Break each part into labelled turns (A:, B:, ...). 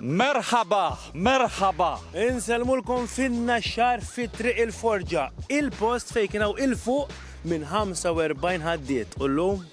A: Merħaba, merħaba! Insellmulkom
B: fin-Naxxar fi Triq il-Forġa, il-post fejn kien hawn 'il fuq minn 45 ħaddiet u llum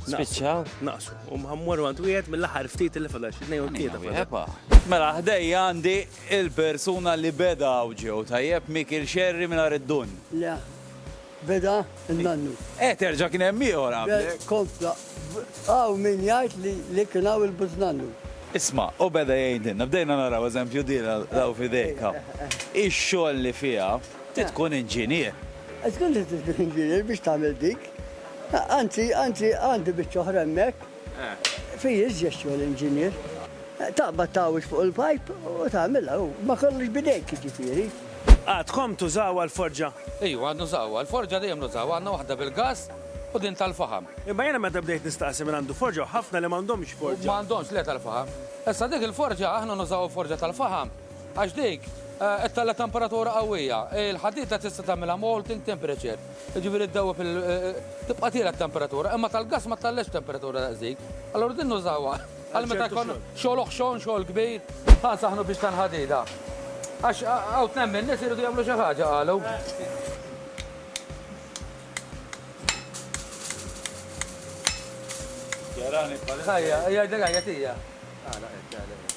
B: Spiċċaw?
A: Naqsu. U
B: mħammur għand wieħed mill-aħħar ftit li fadal xi tnejn u tlieta fadal.
A: Mela ħdejja għandi il-persuna li beda u ġew tajjeb Mikil Xerri mingħajr id-dun. Le,
C: Beda n-nannu. Eh, terġa kien hemm
A: ieħor għamlek. Kompla,
C: għaw min jgħid li li kien hawn il-buznannu. Isma, u
A: beda jgħidilna, bdejna naraw eżempju din għaw fidejk hawn. Ix-xogħol li fiha, trid tkun inġinier. Żgur li trid
C: tkun inġinier biex tagħmel dik. Anzi, anzi, għandi biċċa oħra hemmhekk. Fih iżjed xogħol inġinier. Taqbad tgħawweġ fuq il-pajp u tagħmilha hu. Ma kollox b'idejk jiġifieri. Għadkom
B: tużawha l-forġa? Iva, għad nużawha.
D: Il-forġa dejjem nużawha. Għandna waħda bil-gass u din tal-faħam. Imma jiena meta bdejt
B: nistaqsi min għandu forġa u ħafna li m'għandhomx forġa. M'għandhomx le tal-faħam.
D: Issa dik il-forġa aħna nużawha forġa tal-faħam għax dik ittella' temperatura qawwija. Il-ħadid la tista' tagħmilha molting temperature. Jiġifieri ddewweb il tibqa' tiela' t-temperatura, imma tal-gass ma tagħliġx temperatura daqsdik. Allura din nużawha għal meta jkun xogħol oħxon, xogħol kbir. Ħa nsaħħnu biex tal-ħadida. Għax hawn tnejn min-nies iridu jagħmlu xi ħaġa qalu. Ħajja, jgħidlek ħajja tija. Għala qed, għala qed.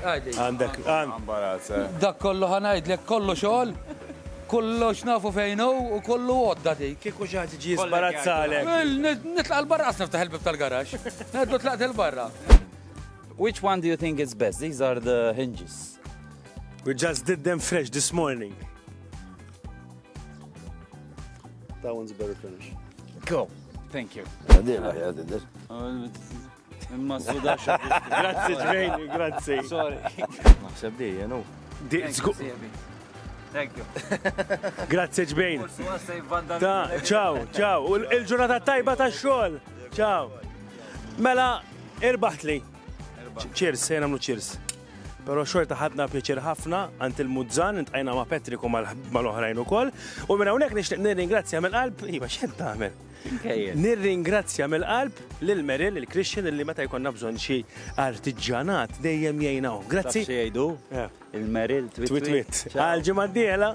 D: Għandek
B: imbarazz,
D: eh? Dak kollu ħa ngħidlek, kollu xogħol, kollox nafu fejn hu u kollu għodda dik. Kieku xi ħadd iġi jisma'.
B: Imbarazzalek. Nitlaq
D: il-barra qas niftaħ il-bieb tal-garaxx. Għadu tlaqt il-barra.
A: Which one do you think is best? These are the hinges. We
B: just did them fresh this morning. That one's better
A: finish. Cool. Thank you. Għadil, għadil. Imma s-suda Grazzi ġvejni,
B: grazzi. Sorry.
A: Naħseb di,
E: jenu. Di, zgu. Thank
A: you. Grazzi
B: ġbejn. Ta, ciao, ciao. Il-ġurnata tajba ta' xol. Ciao. Mela, irbaħt li. Cheers, sejna mlu cheers. Pero xorta ħadna pjaċir ħafna għant il-muzzan, intqajna ma' Patrick u mal-oħrajn u koll. U minna unek nishtiq nirringrazzja mill-qalb, iva xed taħmel. Nirringrazzja mill-qalb lil Meril, lil Christian illi meta jkollna bżonn xi artiġġanat dejjem jgħin hawn. Grazzi. Xi jgħidu? Il-Meril twitwit. Għal
A: ġimgħa
B: d-dieħla.